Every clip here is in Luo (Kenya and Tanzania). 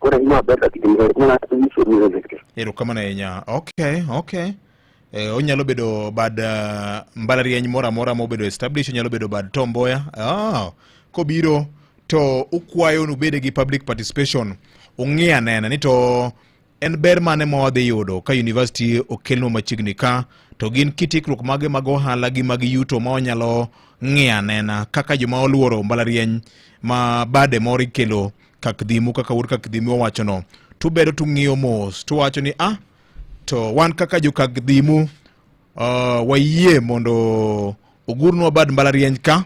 Ore ina beta kitimiro kuna tumiso ni zikri. Ero kama na yenya. Okay, okay. E, onyalo bedo bad uh, mbalariany moro amora mobedo establish onyalo bedo bad Tom Mboya. Ah, kobiro to ukwayo nubede gi public participation ung'e anena ni to En ber mane ma wadhi yudo ka yunivasiti okelnwa machiegni ka to gin kit ikruok mage mag ohala gi mag yuto ma wanyalo ng'iyo anena kaka joma oluoro mbalariany ma bade moro ikelo kakdhimu kaka wuod kakdhimu owachono tubedo tung'iyo mos tuwacho ni ah to wan kaka jokakdhimu uh, wayie mondo ogurnwa bad mbalariany ka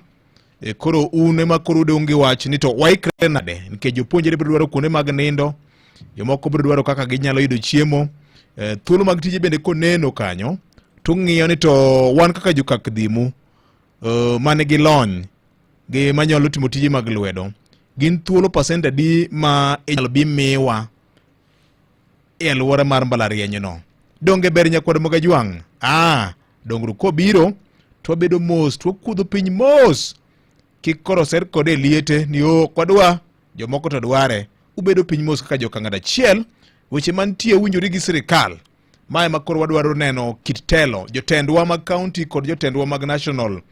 E, koro un ema koro udong' gi wach ni to waikre nade nikech jopuonjre biro dwaro kuonde mag nindo jomoko biro dwaro kaka ginyalo yudo chiemo e, thuolo mag tije bende koneno kanyo to ng'iyo ni to wan kaka jokak dhimu e, man gi lony gi manyalo timo tije mag lwedo gin thuolo pasent adi ma inyalo bi miwa e alwora mar mbalarianyno. Donge ber nyakwar Mogajwang'? Ah, dongruok kobiro to wabedo mos to wakudho piny mos kik koro ser kode e liete ni o oh, kwadwa jomoko to dware ubedo piny mos kaka jokang'ad achiel weche mantie winjore gi sirikal ma ema koro wadwaro neno kit telo jotendwa mag kaunti kod jotendwa mag national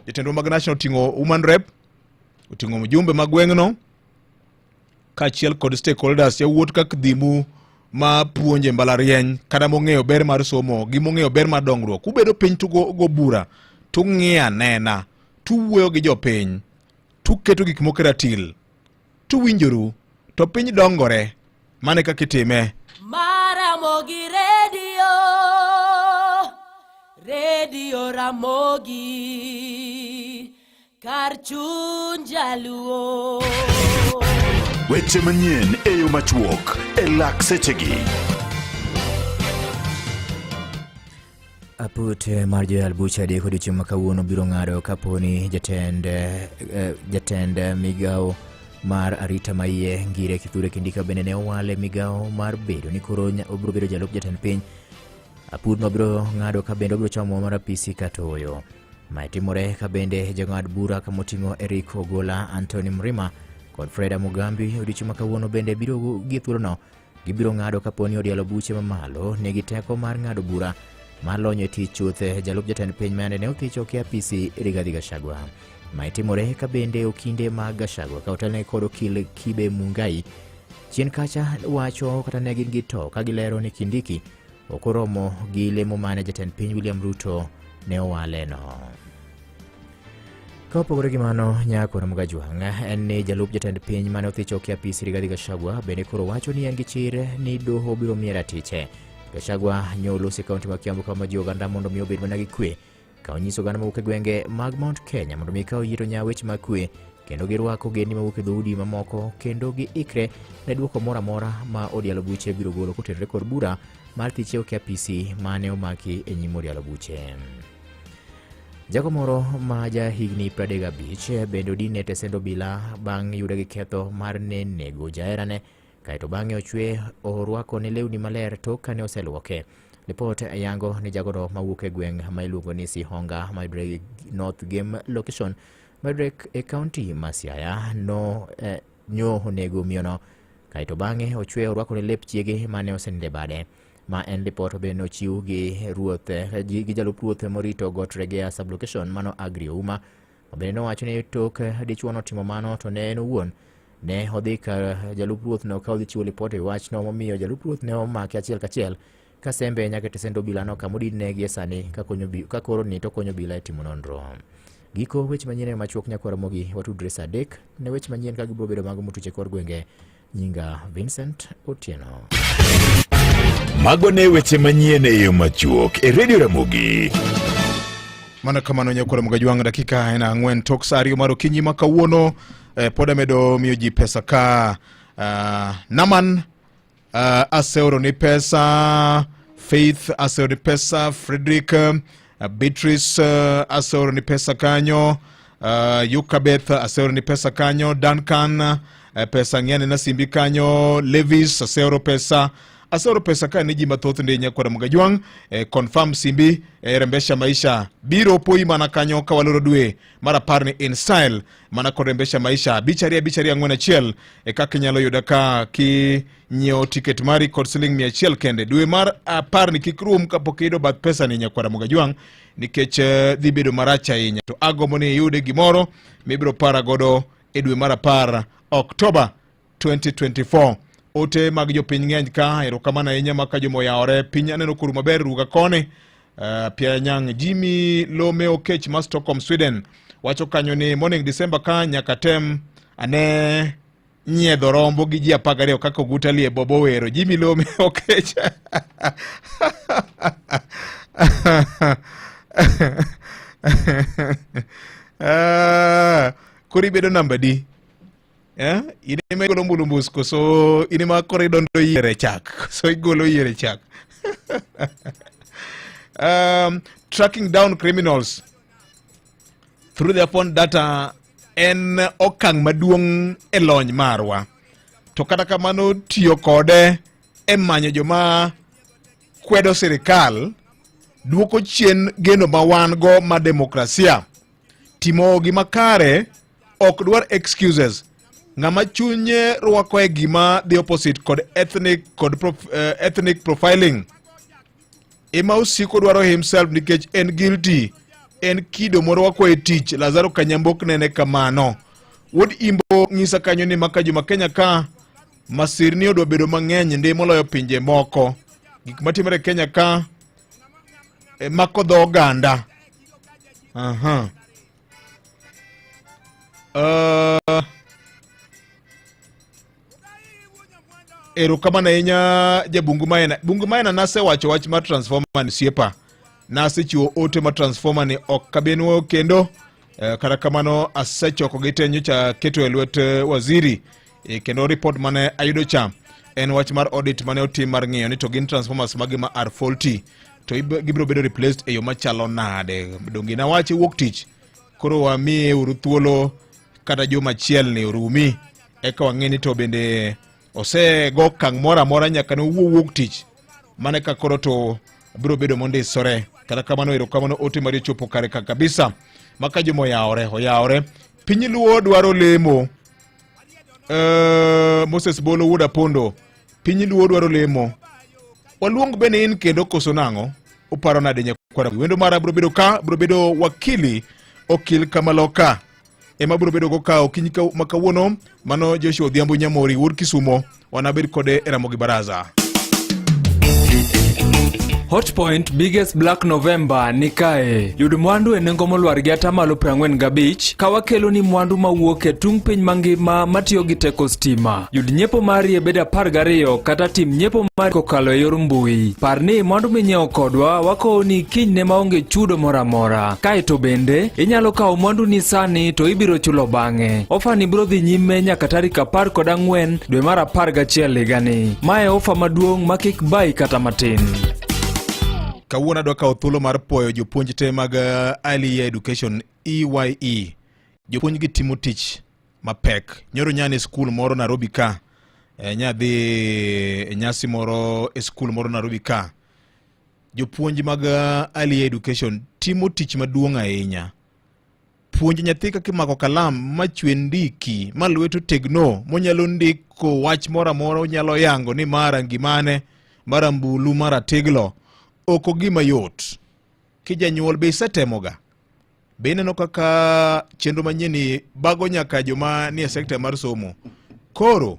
jotendwa mag national oting'o human rep oting'o mjumbe mag gweng'no kaachiel kod stakeholders yawuot kak dhimu ma puonje mbalarieny kata mong'eyo ber mar somo gi mong'eyo ber mar dongruok ubedo piny tugo bura tung'iya nena tuwuoyo gi jopiny tuketo gik moko e ratil tuwinjoru to piny dongore mane kaka itime Ramogi Radio, Radio Ramogi. kar chuny jaluo. Weche manyien e yo machuok e lak sechegi. Aput eh, mar joyal bucha deko odiechieng' ma kawuono biro ng'ado kaponi jatend eh, eh, jatend migawo mar arita maiye ngire kithure kindika bende ne owale migawo mar bedo ni koro obiro bedo jalup jatend piny apudno biro ng'ado ka bende obiro chomo mar apisi katoyo Mae timore ka bende jong'ad bura ka moting'o Eric Ogola, Anthony Mrima kod Freda Mugambi odiochieng' ma kawuono bende biro gi thuolono gibiro ng'ado kapo ni odialo buche mamalo nigi teko mar ng'ado bura mar lony e tich chuth jalup jatend piny mane ne othicho oke apisi Rigathi Gachagua. Mae timore ka bende okinde mag Gachagua ka otelne kod okil Kibe Mungai chien kacha wacho kata ne gin gi to ka gilero ni Kindiki ok oromo gi lemo mane jatend piny William Ruto ne owaleno. Ka opogore gi mano, Nyako Ramogi Ajwang' en ni jalup jatend piny mane othicho ki apis Rigathi Gachagua bende koro wacho ni en gi chir ni doho biro miye ratiche. Gachagua nyo olosi kaunti ma Kiambu kama ji oganda mondo mi obed mana gi kwe ka onyiso oganda mawuok e gwenge mag Mount Kenya mondo mi kaw yiro nya weche mag kwe kendo girwako ogendni mawuok e dhoudi mamoko kendo giikre ne dwoko moro amora ma odialo buche biro golo kotenore kod bura mar thiche oke apisi mane omaki e nyim odialo buche. Jago moro ma ja higni 35 bende odine tesend obila bang' yude gi ketho mar ne nego jaherane Kaeto bang'e ochwe orwako ne lewni maler tok kane oselwoke. Lipot yango ni jagono mawuok e gweng' ma iluongo ni Sihonga mayudore North Game Location mayudore e kaunti ma Siaya no eh, nyo onego miyono kaeto bang'e ochwe orwako ne lep chiege mane oseninde bade ma en lipot be nochiw gi ruoth eh, gi jalup ruoth morito got Regea sublocation mano Agri Ouma Bende nowacho ni tok dichwono timo mano to ne en owuon ne odhi ka jalup ruothno ka odhi chiwo lipot e wachno momiyo jalup ruoth ne omake achiel kachiel ka sembe nyaka tesend obilano kama odinne gie sani ka koro ni to konyo obila e timo nonro. Giko weche manyien e machuok nyakwar Ramogi watudre sa adek ne weche manyien ka gibiro bedo mago motuche kor gwenge Nyinga Vincent Otieno. Mago ne weche manyien e yo machuok e redio Ramogi. Mano kamano nyakula mgajwang' dakika ena ang'wen tok sa ariyo mar okinyi ma kawuono eh, pod amedo miyo ji pesa ka uh, Naman uh, aseoro ni pesa Faith aseoro ni pesa Frederick Uh, Beatrice uh, Asoro ni pesa kanyo. Uh, Yukabeth Asoro ni pesa kanyo. Duncan uh, pesa ng'eny na simbi kanyo. Levis Asoro pesa Asoro pesa ka ni ji mathoth ndi nyakwara mugajwang eh, confirm simbi eh, rembesha maisha biro poi mana kanyo ka waloro dwe mar apar ni in style mana kod rembesha maisha bicharia bicharia ang'wen achiel eh, kaka inyalo yuda ka ki nyiewo tiket mari kod siling mia achiel kende dwe mar apar ni kik rum kapok iyudo bath pesa ni nyakwara mogajwang nikech eh, dhi bedo marach ahinya to agombo ni iyude gimoro mibiro para godo e dwe mar apar oktoba 2024 ote mag jopiny ng'eny ka erokamano ahinya ma ka jomoyawore piny aneno koru maber ruga koni uh, eh, pianyang jimi lome okech ma stockholm sweden wacho kanyo ni morning december ka nyaka tem ane nyiedho rombo gi ji apar gariyo kaka oguta lie bobo wero ji milome okech ah, koro ibedo namba di eh? in ema igolo mbulumbus koso in ema koro idondo yiere chak koso igolo yiere chak um, tracking down criminals through their phone data en okang' maduong' e lony marwa to kata kamano tiyo kode e manyo joma kwedo sirikal dwoko chien geno ma wan go ma demokrasia timo gima kare ok dwar excuses ng'ama chunye rwako e gima the opposite kod ethnic kod prof, uh, ethnic profiling ema osiko dwaro himself nikech en guilty en kido moro wakwa e tich lazaro kanyambok nene kamano wuod imbo ng'isa kanyo ni maka juma kenya ka masirni odwa bedo mang'eny ndi moloyo pinje moko gik matimore kenya ka e, mako dho oganda aha uh, erokamano ahinya jabungu maena bungu maena nasewacho wach mar transformer ni siepa nasechiwo ote mar transformer ni ok kabenwo kendo e, kata kamano asechoko gi te nyocha keto e lwet e, waziri e, kendo ripot mane ayudo cha en wach mar audit mane otim mar ng'iyo ni to gin transformers magi ma are faulty to gibiro bedo replaced e yo machalo nade donge nawache wuok tich koro wamiye uru thuolo kata juma achiel ni orumi eka wang'e ni to bende osego okang' moro amora nyaka ne owuo wuog tich mane ka koro to biro bedo mondisore kata kamano erokamano ote mari ochopo kare ka kabisa maka joma oyawore oyawore piny luo dwaro lemo Eh, moses bolo wuod apondo piny luo dwaro lemo waluong bende in kendo koso nang'o uparo nade nyakwara wendo mara biro bedo ka biro bedo wakili okil kamaloka ema biro bedo gokawo kiny ma kawuono mano joshua odhiambo nyamori wuod kisumo wanabed kode e ramogi baraza Hotpoint biggest black November ni kae. Yud mwandu e nengo molwar gi atamalo 45 ka wakeloni mwandu mawuok e tung piny mangima matiyo gi teko stima. Yud nyiepo mari e bed apar gariyo kata tim nyiepo mari kokalo e yor mbui. Par ni mwandu minyiewo kodwa wakowo ni kinyne maonge chudo moro amora. Kae to bende, inyalo kawo mwandu ni sani to ibiro chulo bang'e. Ofa ni biro dhi nyime nyaka tarik apar kod ang'wen dwe mar apar gachiel higani. Ma e ofa maduong' ma kik bayi kata matin. Kawuono adwa kawo thuolo mar puoyo jopuonj te mag uh, Early Year Education EYE. E. Jopuonjgi timo tich mapek nyoro nya ni skul moro narobi ka e, nya dhi e nyasi moro e skul moro narobi ka jopuonj mag eh, early education timo tich maduong' ahinya puonj nyathi kaka imako kalam machwe ndiki ma lweto tegno monyalo ndiko wach moro amora onyalo yango ni mara ngimane mara mbulu mara teglo oko gima yot kijanyuol be isetemoga Be ineno kaka chenro manyieni bago nyaka joma nie sekta mar somo? Koro